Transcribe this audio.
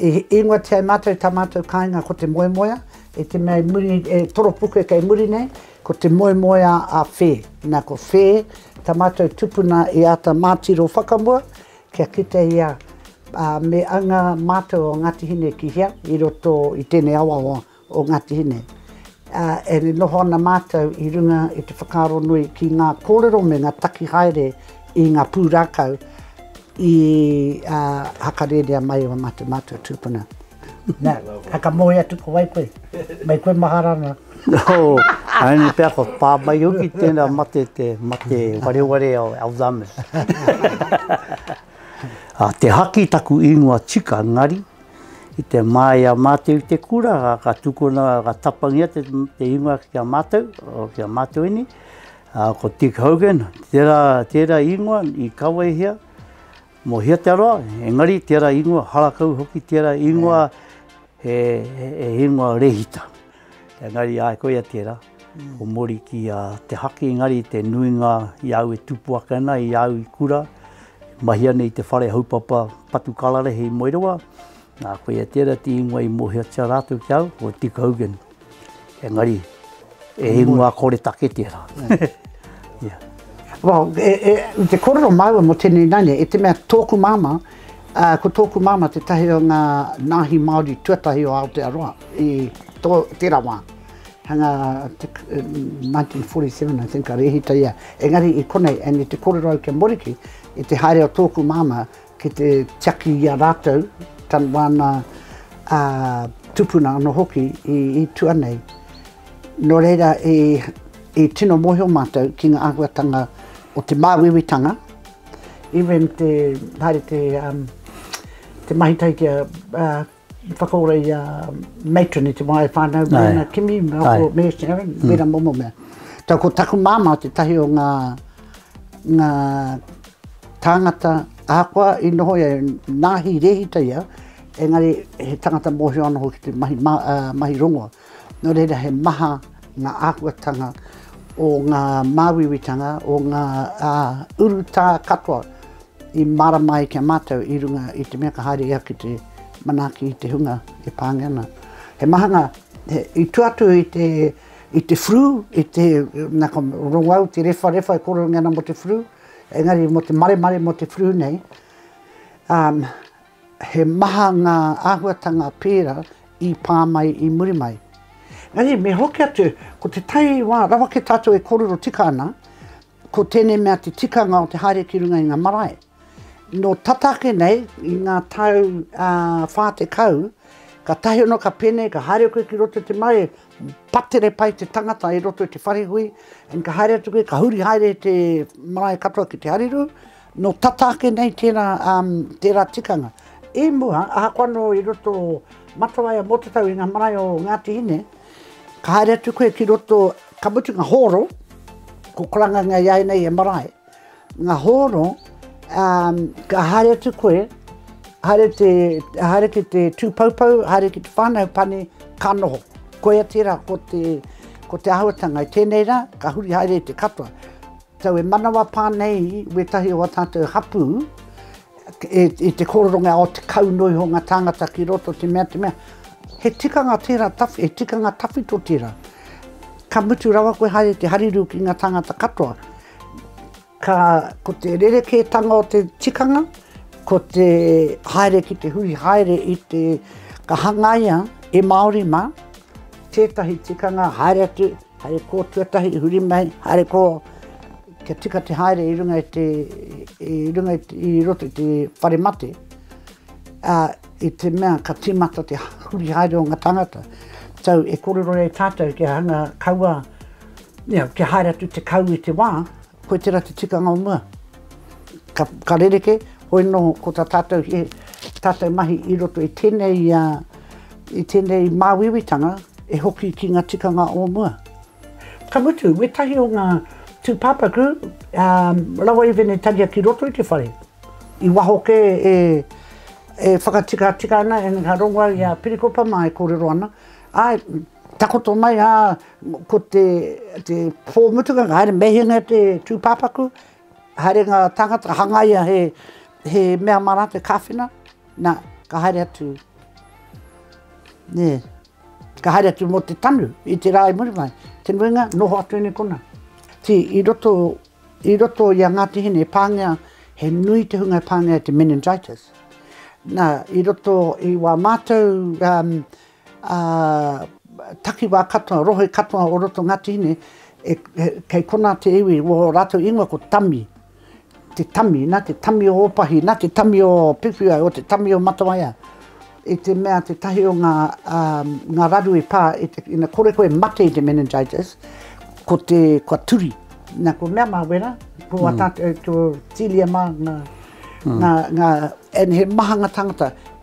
I ingoatia e mātou tā mātou kāinga ko te moemoea, i te mea i muri, e toropuke kei muri nei, ko te moemoea a Whē. Nā, ko Whē tā mātou tupuna i āta mātiro whakamua kia kite ia me anga mātou o Ngāti Hine ki hea i roto i tēnei awa o o Ngāti Hine, ā, e noho ana mātou i runga i te whakaaro nui ki ngā kōrero me ngā taki haere i ngā pūrākau i hakarērea mai e mā te mātou tūpuna. Nā, whakamoe atu ko wai koe? Mai koe mahara ana. Oh, haere pea ko pā mai hoki tēnā mate, te mate wareware o Alzheimer's. Te haki taku ingoa tika, engari, I te māia mātou i te kura, ka tukuna, ka tapangia te ingoa ki a mātou, ki a Mātoini, ko Dick Hogan, tērā, tērā ingoa i kawehia mō Hia Te Aroa, engari tērā ingoa, harakau hoki tērā ingoa, he, he, he ingoa rehita. Engari, ai, koia tērā. Ko Mori ki a Te Haki engari te nuinga i a au e tupu ake ana i a au i kura, e mahia nei i te whare haupapa patu kararehe i Moerewa, nā koia tērā te ingoa i mōhiotia rātou ki a au, ko Dick Hogan. Engari, e ingoa koretake tērā. yeah. Well, e, e, te korero māua mo tēnei naine, e te mea tōku māma, uh, ko tōku māma te tahi o ngā nāhi Māori tuatahi o Aotearoa i tō, tērā wā. Hanga 1947 I think ka rehita ia engari i konei and i te korero au kia moriki i te haere o tōku māmā ki te tiaki i a rātou tan wāna tupuna ano hoki i tua nei no reira i tino mohio mātou ki nga ahuatanga o te māuiuitanga even te haere te mahi tahi ki a I whakaora i a Matron i te wā e whānau mōna kimi me ako me Sharon, wera momo mea. Tau ko taku māmā te tahi o ngā, ngā tāngata ahakoa i noho ia, nāhi rehita ia, engari he tangata mōhio anō hoki te mahi, ma, uh, mahi rongoa. Nō reira he maha ngā āhuatanga o ngā māuiuitanga, o ngā urutā katoa i mārama ai ki a mātou i runga i te mea ka haere ia ki te manaaki i te hunga e pāngia ana. He maha ngā, i tua atu i te, i te flu, i te, nā ka rongo au, te rewharewha e kōrerongia ana mō te flu, engari mō te maremare mō te flu nei, He maha ngā āhuatanga pērā i pā mai i muri mai. Engari me hoki atu, ko te tai wā, rawake tātou e kōrero tika ana, ko tēnei mea te tikanga o te haere ki runga i ngā marae. Nō tata ake nei, i ngā tau ā, 40, kātahi anō ka pēnei, ka haere koe ki roto i te marae, patere pai te tangata i roto i te wharehui, and ka haere atu koe, ka huri haere te marae katoa ki te harirū, Nō tata ake nei tērā, tērā tikanga. I mua, ahakoa anō i roto o Matawai a Mōtetau i ngā marae o Ngāti Hine, ka haere atu koe ki roto, ka mutu ngā hōro, ko Karangangia i a ia nei he marae, ngā hōro, ka haere atu koe, haere te, haere ki te tūpoupou, haere ki te whānau pane, ka noho. Koia tērā ko te, ko te āhuatanga. I tēnei rā, ka huri haere i te katoa. Tau e manawa pā nei wētahi o a tātou hapū e, i te kōroronga o te kau noa iho ngā tāngata ki roto te mea, te mea, he tikanga tērā, tawhi, he tikanga tawhito tērā. Ka mutu rawa koe haere te hariru ki ngā tāngata katoa. Ka, ko te rerekētanga o te tikanga, ko te haere ki te hui haere i te, ka hangaia e Māori mā, tētahi tikanga haere atu, Haere kō tuatahi i huri mai, haere kō kia tika te haere i runga i te, i runga i, te, i roto i te whare mate, a, i te mea ka tīmata te huri haere o ngā tangata. Tau e korero e tātou kia hanga kaua, you know, kia haere atu te kau i te wā, Koe tera te tikanga o mua. Ka, ka rereke, hoi no ko ta tatou, he tatou mahi i roto i tenei, i tenei mawiwitanga e hoki ki nga tikanga o mua. Ka mutu, wetahi o nga tupapaku rawa i venetaria ki roto i te whare, i waho ke e, e whakatikatika ana, e nga rongoa i a Pirikopa ma e korero ana, ae, Takoto mai a, ko te te po mutunga ka haere mehena te tupapaku, haere nga tangata ka hangaia he he mea ma ratou e kawhena, na ka haere atu ne ka haere atu mo te tanu i te ra i muri mai, te nuinga noho atu nei kona. Ti i roto i roto i a Ngati Hine e pangea he nui te hunga e pangea e te meningitis. Na i roto i wa matou Ā, takiwā katoa, rohe katoa o roto o Ngāti Hine, e, kei konā te iwi, wō rātou ingoa ko Tami, te Tami, nā te Tami o Ōpahi, nā te Tami o Piwhiwai, o te Tami o Matawaia, i te mea tētahi o ngā, ā, ngā raru i pā, i te, ina kore koe e mate i te meningitis, ko te, kua turi. Nā, ko mea mā wera, ko wā tātou, ko Tīlia mā ngā, ngā, ngā, and he mahanga tāngata.